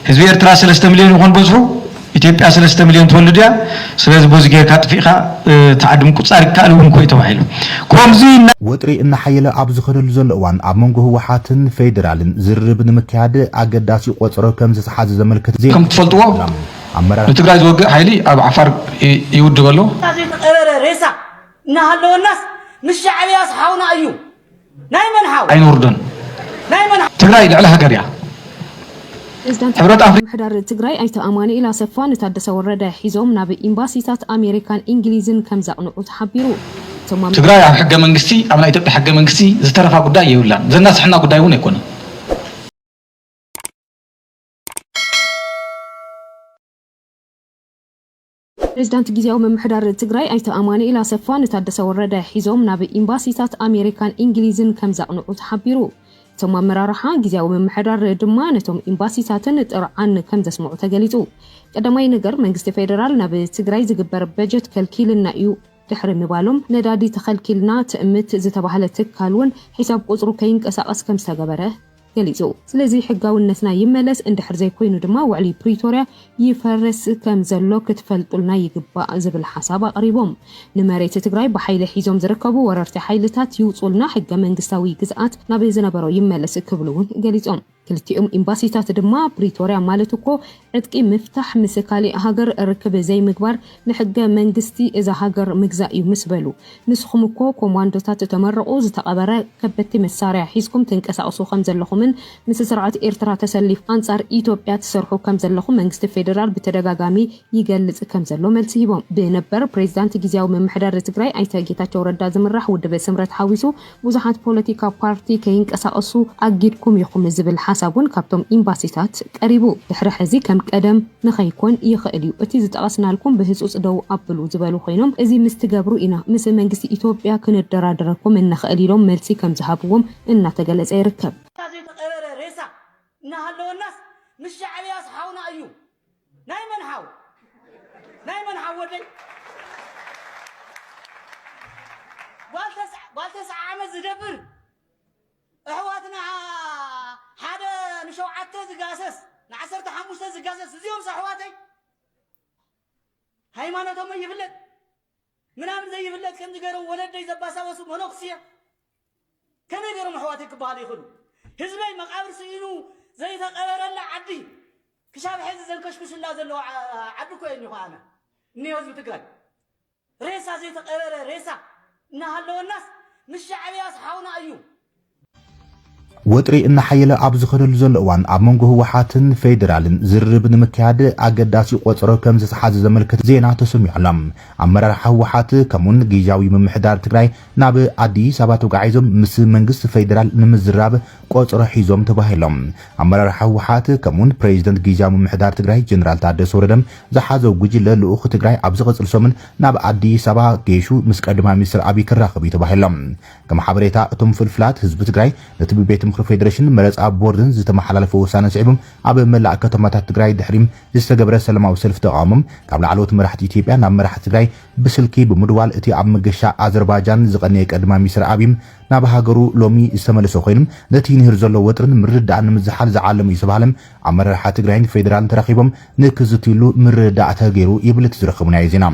ህዝቢ ኤርትራ ሰለስተ ምልዮን ይኾን በዝሑ፣ ኢትዮጵያ ሰለስተ ምልዮን ትወልድ እያ፣ ስለዚ በዚ ጌርካ ኣጥፊእኻ እቲ ዓዲ ምቁጽጻር ይከኣል እውን እኮ እዩ ተባሂሉ። ኮምዚ እና። ወጥሪ እናሓየለ ኣብ ዝኸደሉ ዘሎ እዋን ኣብ መንጎ ህወሓትን ፌዴራልን ዝርርብ ንምክያድ ኣገዳሲ ቆጸሮ ከም ዝተሓዘ ዘመልክት ዜና ከም እትፈልጥዎ ወጺኡ ኣሎ። ኣመራርሓ። ንትግራይ ዝወግእ ሓይሊ ኣብ ዓፋር ይውድብ ኣሎ። ሬሳ ዘይተቀበረ ሬሳ እናሃለወናስ ምስ ሻዕብያስ ሓውና እዩ ኣይነውርዶን ትግራይ ልዕሊ ሃገር እያ። ፕሬዚዳንት ሕብረት ኣፍሪካ ምምሕዳር ትግራይ ኣይተ ኣማኑኤል ኣሰፋ ንታደሰ ወረደ ሒዞም ናብ ኤምባሲታት ኣሜሪካን ኢንግሊዝን ከምዘቕንዑ ተሓቢሩ። እቶም ኣብ ትግራይ ኣብ ሕገ መንግስቲ ኣብ ናይ ኢትዮጵያ ሕገ መንግስቲ ዝተረፋ ጉዳይ የብላን ዘናስሐና ጉዳይ እውን ኣይኮነን። ፕሬዚዳንት ጊዚያዊ ምምሕዳር ትግራይ ኣይተ ኣማኑኤል ኣሰፋ ንታደሰ ወረደ ሒዞም ናብ ኢምባሲታት ኣሜሪካን ኢንግሊዝን ከምዘቕንዑ ተሓቢሩ። እቶም ኣመራርሓ ጊዚያዊ ምምሕዳር ድማ ነቶም ኢምባሲታትን ጥርዓን ከምዘስምዑ ተገሊፁ። ቀዳማይ ነገር መንግስቲ ፌደራል ናብ ትግራይ ዝግበር በጀት ከልኪልና ኢዩ ድሕሪ ምባሎም ነዳዲ ተኸልኪልና ትእምት ዝተባህለ ትካል ውን ሒሳብ ቁፅሩ ከይንቀሳቐስ ከምዝተገበረ ገሊጹ። ስለዚ ሕጋውነትና ይመለስ፣ እንድሕር ዘይኮይኑ ድማ ውዕሊ ፕሪቶርያ ይፈርስ ከም ዘሎ ክትፈልጡልና ይግባእ ዝብል ሓሳብ ኣቕሪቦም። ንመሬት ትግራይ ብሓይሊ ሒዞም ዝርከቡ ወረርቲ ሓይልታት ይውጹልና፣ ሕገ መንግስታዊ ግዝኣት ናብ ዝነበሮ ይመለስ ክብሉ እውን ገሊጾም። ክልቲኦም ኢምባሲታት ድማ ፕሪቶርያ ማለት እኮ ዕጥቂ ምፍታሕ ምስ ካሊእ ሃገር ርክብ ዘይምግባር ንሕገ መንግስቲ እዛ ሃገር ምግዛእ እዩ ምስ በሉ ንስኹም እኮ ኮማንዶታት ተመርቑ ዝተቐበረ ከበድቲ መሳርያ ሒዝኩም ትንቀሳቕሱ ከም ዘለኹምን ምስ ስርዓት ኤርትራ ተሰሊፍ ኣንጻር ኢትዮጵያ ትሰርሑ ከም ዘለኹም መንግስቲ ፌደራል ብተደጋጋሚ ይገልጽ ከም ዘሎ መልሲ ሂቦም። ብነበር ፕሬዚዳንት ግዝያዊ ምምሕዳር ትግራይ ኣይተ ጌታቸው ረዳ ዝምራሕ ውድብ ስምረት ሓዊሱ ብዙሓት ፖለቲካ ፓርቲ ከይንቀሳቐሱ ኣጊድኩም ኢኹም ዝብል ሓሳብ ውን ካብቶም ኢምባሲታት ቀሪቡ። ድሕሪ ሕዚ ከም ቀደም ንኸይኮን ይኽእል ዩ። እቲ ዝጠቐስናልኩም ብህፁፅ ደው ኣብሉ ዝበሉ ኮይኖም እዚ ምስ ትገብሩ ኢና ምስ መንግስቲ ኢትዮጵያ ክነደራድረኩም እንኽእል ኢሎም መልሲ ከም ዝሃብዎም እናተገለፀ ይርከብ። ዘይተቐበረ ሬሳ እናሃለወናስ ምስ ሻዕብያስ ሓውና እዩ ናይ መን ሓው ናይ መን ሓው ወደይ ጓል ተስዓ ጓል ተስዓ ዓመት ዝደብር እሕዋትና ሓደ ንሸውዓተ ዝጋሰስ ንዓሰርተ ሓሙሽተ ዝጋሰስ እዚኦም ኣሕዋተይ ሃይማኖቶም ይፍለጥ ምናምን ዘይፍለጥ ከምዚ ገይሮም ወለደይ ዘባሳበሱ መነኩስየ ከመይ ገይሮም ኣሕዋተይ ክበሃሉ ይኽእሉ? ህዝበይ መቓብር ስኢኑ ዘይተቐበረላ ዓዲ ክሻብ ሐዚ ዘንከሽክሹላ ዘለዉ ዓዲ እኮ እየ እኒሆ ኣነ እኒሆ ህዝቢ ትግራይ ሬሳ ዘይተቐበረ ሬሳ እናሃለወናስ ምስ ሻዕብያስ ሓውና እዩ ወጥሪ እናሓየለ ኣብ ዝኸደሉ ዘሎ እዋን ኣብ መንጎ ህወሓትን ፌዴራልን ዝርርብ ንምክያድ ኣገዳሲ ቆፀሮ ከምዝተሓዘ ዘመልክት ዜና ተሰሚዑ ኣሎ። ኣመራርሓ ህወሓት ከምኡ እውን ጊዚያዊ ምምሕዳር ትግራይ ናብ ኣዲስ ኣበባ ተጓዒዞም ምስ መንግስቲ ፌዴራል ንምዝራብ ቆፀሮ ሒዞም ተባሂሎም። ኣመራርሓ ህወሓት ከምኡ እውን ፕሬዚደንት ጊዚያዊ ምምሕዳር ትግራይ ጀነራል ታደሰ ወረደ ዝሓዘው ጉጅለ ልኡኽ ትግራይ ኣብ ዝቕፅል ሰሙን ናብ ኣዲስ ኣበባ ገይሹ ምስ ቀዳማይ ሚኒስትር ኣብይ ክራኸብ እዩ ተባሂሉ። ከም ሓበሬታ እቶም ፍልፍላት፣ ህዝቢ ትግራይ ነቲ ብቤት ምኽሪ ፌደሬሽንን መረፃ ቦርድን ዝተመሓላለፈ ውሳነ ስዒቡ ኣብ መላእ ከተማታት ትግራይ ድሕሪ ዝተገብረ ሰላማዊ ሰልፊ ተቓውሞ ካብ ላዕለዎት መራሕቲ ኢትዮጵያ ናብ መራሕቲ ትግራይ ብስልኪ ብምድዋል እቲ ኣብ መገሻ ኣዘርባጃን ዝቐነየ ቀዳማይ ሚኒስትር ኣብይ ናብ ሃገሩ ሎሚ ዝተመለሰ ኮይኑ ነቲ ንሂር ዘሎ ወጥርን ምርድዳእን ንምዝሓል ዝዓለመ እዩ ዝተባህለ ኣመራርሓ ትግራይን ፌደራልን ተራኺቦም ንክዝትይሉ ምርድዳእ ተገይሩ ይብል እቲ ዝረኸብናዮ ዜና።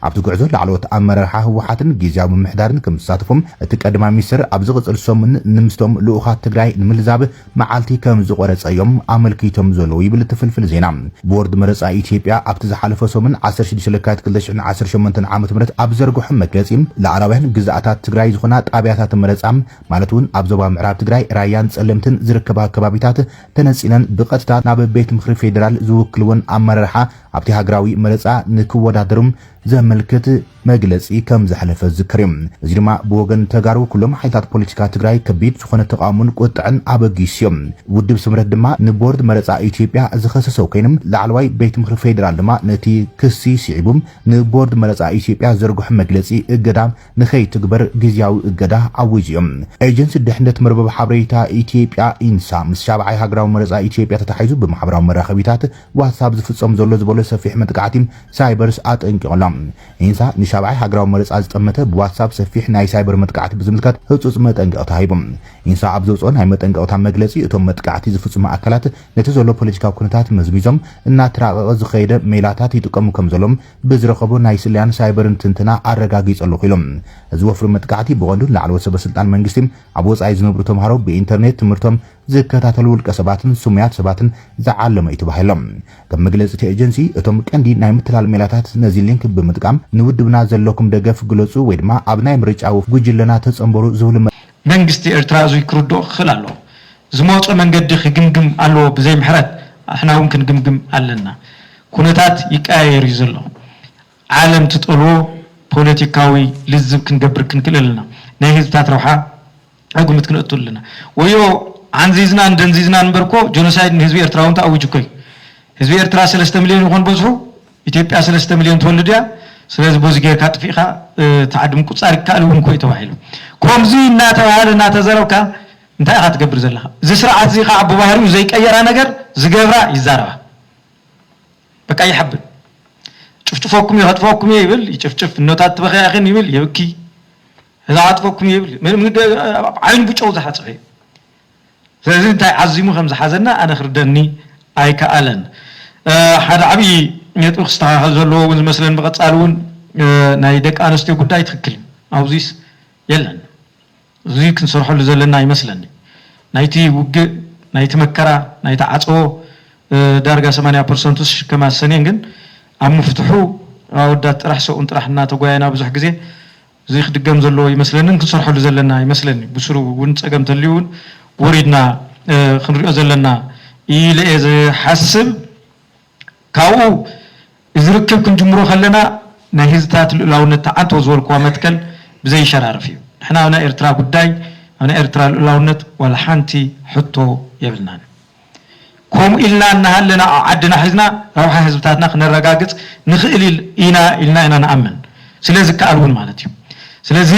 ኣብቲ ጉዕዞ ላዕለዎት ኣመራርሓ ህወሓትን ጊዚያዊ ምምሕዳርን ከምዝተሳተፉ እቲ ቀዳማይ ሚኒስትር ኣብ ዝቕፅል ሰሙን ንምስቶም ልኡኻት ትግራይ ንምልዛብ መዓልቲ ከምዝቖረፀ እዮም ኣመልኪቶም ዘለዉ ይብል እቲ ፍልፍል ዜና። ቦርድ መረፃ ኢትዮጵያ ኣብቲ ዝሓለፈ ሰሙን ዓሰርተ ሽዱሽተ ለካቲት ክልተ ሽሕን ዓሰርተ ሸሞንተን ዓመተ ምህረት ኣብ ዝዘርገሖ መግለፂ ላኣላውያን ግዝኣታት ትግራይ ዝኾና ጣብያታት መረፃ ማለት እውን ኣብ ዞባ ምዕራብ ትግራይ ራያን ፀለምትን ዝርከባ ከባቢታት ተነጺለን ብቐጥታ ናብ ቤት ምኽሪ ፌደራል ዝውክልወን ኣመራርሓ ኣብቲ ሃገራዊ መረጻ ንክወዳደሩ ዘመልክት መግለጺ ከም ዘሕለፈ ዝዝከር እዩ። እዚ ድማ ብወገን ተጋሩ ኩሎም ሓይልታት ፖለቲካ ትግራይ ከቢድ ዝኾነ ተቓውሞን ቁጥዐን ኣበጊሱ እዩ። ውድብ ስምረት ድማ ንቦርድ መረጻ ኢትዮጵያ ዝኸሰሰ ኮይኑ ላዕለዋይ ቤት ምኽሪ ፌደራል ድማ ነቲ ክሲ ስዒቡ ንቦርድ መረጻ ኢትዮጵያ ዘርግሖ መግለጺ እገዳ ንከይትግበር ግዝያዊ እገዳ ኣዊጁ'ዩ። ኤጀንሲ ድሕነት መርበብ ሓበሬታ ኢትዮጵያ፣ ኢንሳ፣ ምስ ሻብዓይ ሃገራዊ መረጻ ኢትዮጵያ ተታሒዙ ብማሕበራዊ መራኸቢታት ዋትስኣፕ ዝፍጸም ዘሎ ዝበሎ ሰፊሕ መጥቃዕቲ ሳይበርስ ኣጠንቂቑ ኣሎ። ኢንሳ ንሻብዓይ ሃገራዊ መረጻ ዝጠመተ ብዋትስኣፕ ሰፊሕ ናይ ሳይበር መጥቃዕቲ ብዝምልከት ህጹጽ መጠንቀቕታ ሂቡ። ኢንሳ ኣብ ዘውጽኦ ናይ መጠንቀቕታ መግለጺ እቶም መጥቃዕቲ ዝፍጽሙ ኣካላት ነቲ ዘሎ ፖለቲካዊ ኩነታት መዝሚዞም እናተራቐቐ ዝኸየደ ሜላታት ይጥቀሙ ከምዘለዉን ብዝረኸቦ ናይ ስለያን ሳይበርን ትንተና ኣረጋጊጸ ኣለኹ ኢሉ። እዚ ወፍሪ መጥቃዕቲ ብቐንዱ ንላዕለዎት ሰበስልጣን መንግስቲ፣ ኣብ ወጻኢ ዝነብሩ ተምሃሮ፣ ብኢንተርኔት ትምህርቶም ዝከታተሉ ውልቀሰባትን ስሙያት ሰባትን ዝዓለመ እዩ ተባሂሉ። ከም መግለጺ እቲ ኤጀንሲ፣ እቶም ቀንዲ ናይ ምትላል ሜላታት ነዚ ሊንክ ብምጥቃም ንውድብና ዘለኩም ደገፍ ግለጹ ወይ ድማ ኣብ ናይ ምርጫ ወፍሪ ጉጅለና ተጸንበሩ ዝብሉ መንግስቲ ኤርትራ እዙይ ክርድኦ ክኽእል ኣለዎ። ዝመጾ መንገዲ ክግምግም ኣለዎ ብዘይ ምሕረት ኣሕናውን ክንግምግም ኣለና። ኩነታት ይቀያየር እዩ ዘሎ። ዓለም ትጠልቦ ፖለቲካዊ ልዝብ ክንገብር ክንክእል ኣለና። ናይ ህዝብታት ረብሓ ኣብ ግምት ክነእቱ ኣለና። ወዮ ዓንዚዝናን ደንዚዝናን እምበር እኮ ጆኖሳይድ ንህዝቢ ኤርትራ እውን ተኣዊጁ እኮ እዩ። ህዝቢ ኤርትራ ሰለስተ ምልዮን ይኾን በዝሑ? ኢትዮጵያ ሰለስተ ምልዮን ትወልድ እያ? ስለዚ በዚ ጌርካ ኣጥፊእኻ ትዓዲ ምቁጻር ይከኣል እውን እኮ እዩ ተባሂሉ። ከምዚ እናተባህለ እናተዘረብካ እንታይ ኢኻ ትገብር ዘለኻ? እዚ ስርዓት እዚ ከዓ ብባህሪኡ ዘይቀየራ ነገር ዝገብራ ይዛረባ። በቃ ይሓብን ጭፍጭፈኩም እየ ከጥፈኩም እየ ይብል ይጭፍጭፍ እኖታት ትበክያ ኢኺን ይብል የብኪ እዛ ከጥፈኩም እየ ይብል ዓይኑ ብጨው ዝሓፅበ እዩ ስለዚ እንታይ ዓዚሙ ከም ዝሓዘና ኣነ ክርደኒ ኣይከኣለን ሓደ ዓብዪ ነጥቢ ክስተኻኸል ዘለዎ እውን ዝመስለን ብቐፃሊ እውን ናይ ደቂ ኣንስትዮ ጉዳይ ትክክል እዩ ኣብዚስ የለን እዙይ ክንሰርሐሉ ዘለና ይመስለኒ። ናይቲ ውግእ፣ ናይቲ መከራ፣ ናይቲ ዓፀቦ ዳርጋ ሰማንያ ፐርሰንቱ ዝሽከም ኣሰንየን ግን ኣብ ምፍትሑ ኣወዳት ጥራሕ ሰብኡን ጥራሕ እናተጓየና ብዙሕ ግዜ እዙይ ክድገም ዘለዎ ይመስለንን ክንሰርሐሉ ዘለና ይመስለኒ። ብስሩ እውን ፀገም ተልዩ እውን ወሪድና ክንሪኦ ዘለና ኢለ እየ ዝሓስብ። ካብኡ እዚ ርክብ ክንጅምሮ ከለና ናይ ህዝታት ልኡላውነት ትዓንቶ ዝበልኩዋ መትከል ብዘይሸራርፍ እዩ። ንሕና ኣብ ናይ ኤርትራ ጉዳይ፣ ኣብ ናይ ኤርትራ ልኡላውነት ዋላ ሓንቲ ሕቶ የብልናን። ከምኡ ኢልና እናሃለና ኣብ ዓድና ሒዝና ረብሓ ህዝብታትና ክነረጋግጽ ንኽእል ኢና ኢልና ኢና ንኣምን። ስለ ዝከኣል እውን ማለት እዩ። ስለዚ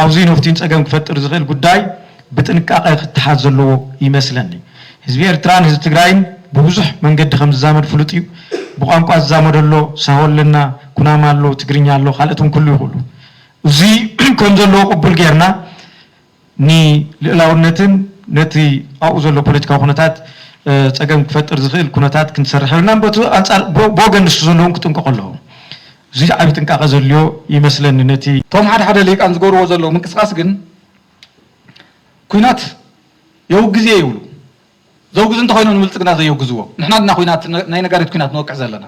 ኣውዝዩ ነፍትዩን ጸገም ክፈጥር ዝኽእል ጉዳይ፣ ብጥንቃቐ ክተሓዝ ዘለዎ ይመስለኒ። ህዝቢ ኤርትራን ህዝቢ ትግራይን ብብዙሕ መንገዲ ከም ዝዛመድ ፍሉጥ እዩ። ብቋንቋ ዝዛመዶ ኣሎ፣ ሳሆ ኣለና፣ ኩናማ ኣሎ፣ ትግርኛ ኣሎ፣ ካልኦት እውን ክህልዉ ይኽእሉ። እዙይ ከም ዘለዎ ቅቡል ገይርና ንልእላውነትን ነቲ ኣብኡ ዘሎ ፖለቲካዊ ኩነታት ፀገም ክፈጥር ዝኽእል ኩነታት ክንሰርሕ የብልናን። በቲ ኣንፃር ብወገን ንሱ ዘሎ እውን ክጥንቀቑ ኣለዎም። እዙይ ዓብዪ ጥንቃቐ ዘድልዮ ይመስለኒ። ነቲ። እቶም ሓደ ሓደ ሊሂቃን ዝገብርዎ ዘለዉ ምንቅስቓስ ግን። ኩናት የውግዝ እየ ይብሉ ዘውግዙ እንተኾይኖም ንብልፅግና ዘየውግዝዎ ንሕና ድና ኩናት ናይ ነጋሪት ኩናት ንወቅዕ ዘለና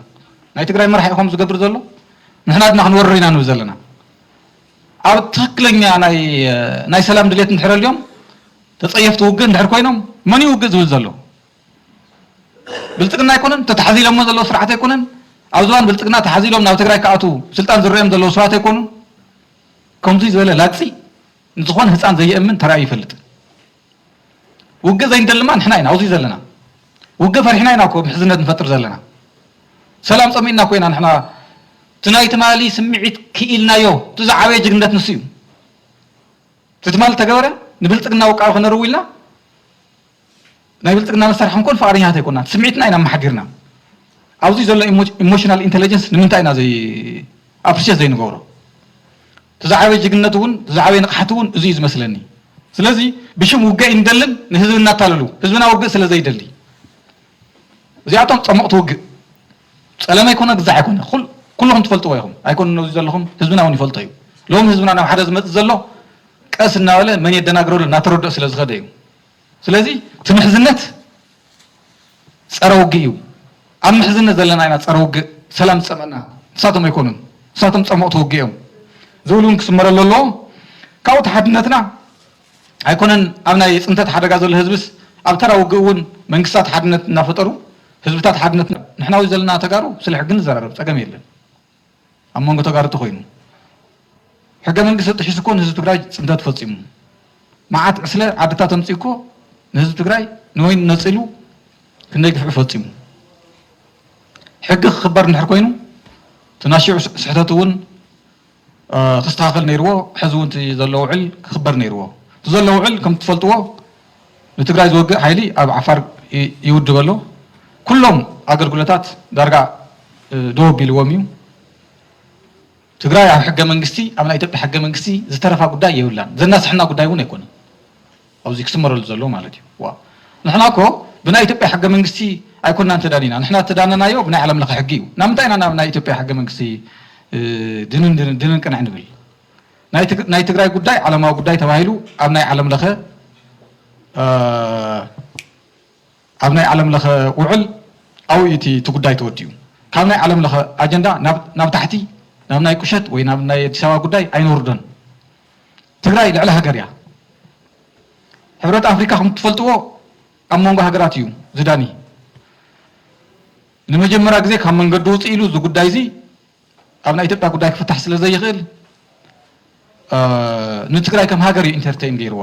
ናይ ትግራይ መራሒ ኢኹም ዝገብር ዘሎ ንሕና ድና ክንወርር ኢና ንብል ዘለና ኣብ ትክክለኛ ናይ ሰላም ድሌት እንድሕር ኣልዮም ተፀየፍቲ ውግእ እንድሕር ኮይኖም መን እዩ ውግእ ዝብል ዘሎ ብልፅግና ኣይኮነን ተታሓዚሎሞ ዘለዎ ስርዓት ኣይኮነን ኣብ ዝባን ብልፅግና ተሓዚሎም ናብ ትግራይ ክኣትዉ ስልጣን ዝረኦም ዘለዉ ሰባት ኣይኮኑን ከምዙይ ዝበለ ላግፂ ንዝኾነ ህጻን ዘየእምን ተራእዩ ኣይፈልጥን። ውግእ ዘይንደሊ እማ ንሕና ኢና ኣብዚ ዘለና። ውግእ ፈሪሕና ኢና እኮ ምሕዝነት ንፈጥር ዘለና። ሰላም ጸሚእና እኮ ኢና ንሕና እቲ ናይ ትማሊ ስምዒት ክኢልናዮ። እቲ ዝዓበየ ጅግንነት ንሱ እዩ። እቲ ትማሊ ዝተገበረ ንብልጽግና ውቃቢ ከነርው ኢልና፣ ናይ ብልፅግና መሳርሒ ክንኮን ፍቓደኛታት ኣይኮናን። ስምዒትና ኢና ኣመሓዲርና። ኣብዙይ ዘሎ ኢሞሽናል ኢንተለጀንስ ንምንታይ ኢና ኣፕሪሼት ዘይንገብሮ? እቲ ዝዓበየ ጅግንነት እውን እቲ ዝዓበየ ንቕሓት እውን እዙይ እዩ ዝመስለኒ። ስለዚ ብሽም ውግእ ኣይንደልን ንህዝቢ እናታለሉ። ህዝብና ውግእ ስለ ዘይደሊ። እዚኣቶም ፀሞቕቲ ውግእ። ፀለመ ኣይኮነ ግዛዕ ኣይኮነ ኩልኹም ትፈልጥዎ ኢኹም። ኣይኮነ ነዙይ ዘለኹም ህዝብና እውን ይፈልጦ እዩ። ሎሚ ህዝብና ናብ ሓደ ዝመፅእ ዘሎ ቀስ እናበለ መን የደናግረሉ እናተረድኦ ስለ ዝኸደ እዩ። ስለዚ እቲ ምሕዝነት ጸረ ውግእ እዩ። ኣብ ምሕዝነት ዘለና ኢና ጸረ ውግእ ሰላም ዝጸመና ንሳቶም ኣይኮኑን ንሳቶም ጸሞቕቲ ውግእ እዮም ዝብል እውን ክስመረሉ ኣለዎ። ካብኡ እቲ ሓድነትና ኣይኮነን ኣብ ናይ ጽንተት ሓደጋ ዘሎ ህዝብስ ኣብ ተራ ውግእ እውን መንግስታት ሓድነት እናፈጠሩ ህዝብታት ሓድነት ንሕና ኣብዚ ዘለና ተጋሩ ስለ ሕጊ ንዘራረብ ጸገም የለን። ኣብ መንጎ ተጋሩ ተኾይኑ ሕገ መንግስቲ ጥሒሱ እኮ ንህዝቢ ትግራይ ፅንተት ፈፂሙ መዓት ዕስለ ዓድታት ኣምፂኡ እኮ ንህዝቢ ትግራይ ንወይኑ ነፂሉ ክንደይ ግፍዒ ፈፂሙ ሕጊ ክኽበር እንድሕር ኮይኑ እቲ ናይ ሽዑ ስሕተት እውን ክስተኻኸል ነይርዎ ሕዚ እውን እቲ ዘሎ ውዕል ክኽበር ነይርዎ እቲ ዘሎ ውዕል ከም እትፈልጥዎ ንትግራይ ዝወግእ ሓይሊ ኣብ ዓፋር ይውድብ ኣሎ። ኩሎም ኣገልግሎታት ዳርጋ ደው ኣቢልዎም እዩ። ትግራይ ኣብ ሕገ መንግስቲ ኣብ ናይ ኢትዮጵያ ሕገ መንግስቲ ዝተረፋ ጉዳይ የብላን። ዘናስሐና ጉዳይ እውን ኣይኮነን ኣብዚ ክስመረሉ ዘሎ ማለት እዩ። ዋ ንሕና እኮ ብናይ ኢትዮጵያ ሕገ መንግስቲ ኣይኮናን ተዳኒና ንሕና ተዳነናዮ ብናይ ዓለም ለኸ ሕጊ እዩ። ናምንታይ ኢና ናብ ናይ ኢትዮጵያ ሕገ መንግስቲ ድንን ድንን ድንን ቅንዕ ንብል? ናይ ትግራይ ጉዳይ ዓለማዊ ጉዳይ ተባሂሉ ኣብ ናይ ዓለም ለኸ ኣብ ናይ ዓለም ለኸ ውዕል ኣብኡ እዩ እቲ ጉዳይ ተወዲኡ። ካብ ናይ ዓለም ለኸ ኣጀንዳ ናብ ታሕቲ ናብ ናይ ቁሸት ወይ ናብ ናይ ኣዲስ ኣበባ ጉዳይ ኣይነውርዶን። ትግራይ ልዕሊ ሃገር እያ። ሕብረት ኣፍሪካ ከም ትፈልጥዎ ኣብ መንጎ ሃገራት እዩ ዝዳኒ። ንመጀመሪያ ግዜ ካብ መንገዲ ውፅእ ኢሉ እዚ ጉዳይ እዚ ኣብ ናይ ኢትዮጵያ ጉዳይ ክፍታሕ ስለ ዘይኽእል ንትግራይ ከም ሃገር እዩ ኢንተርተይን ገይርዋ።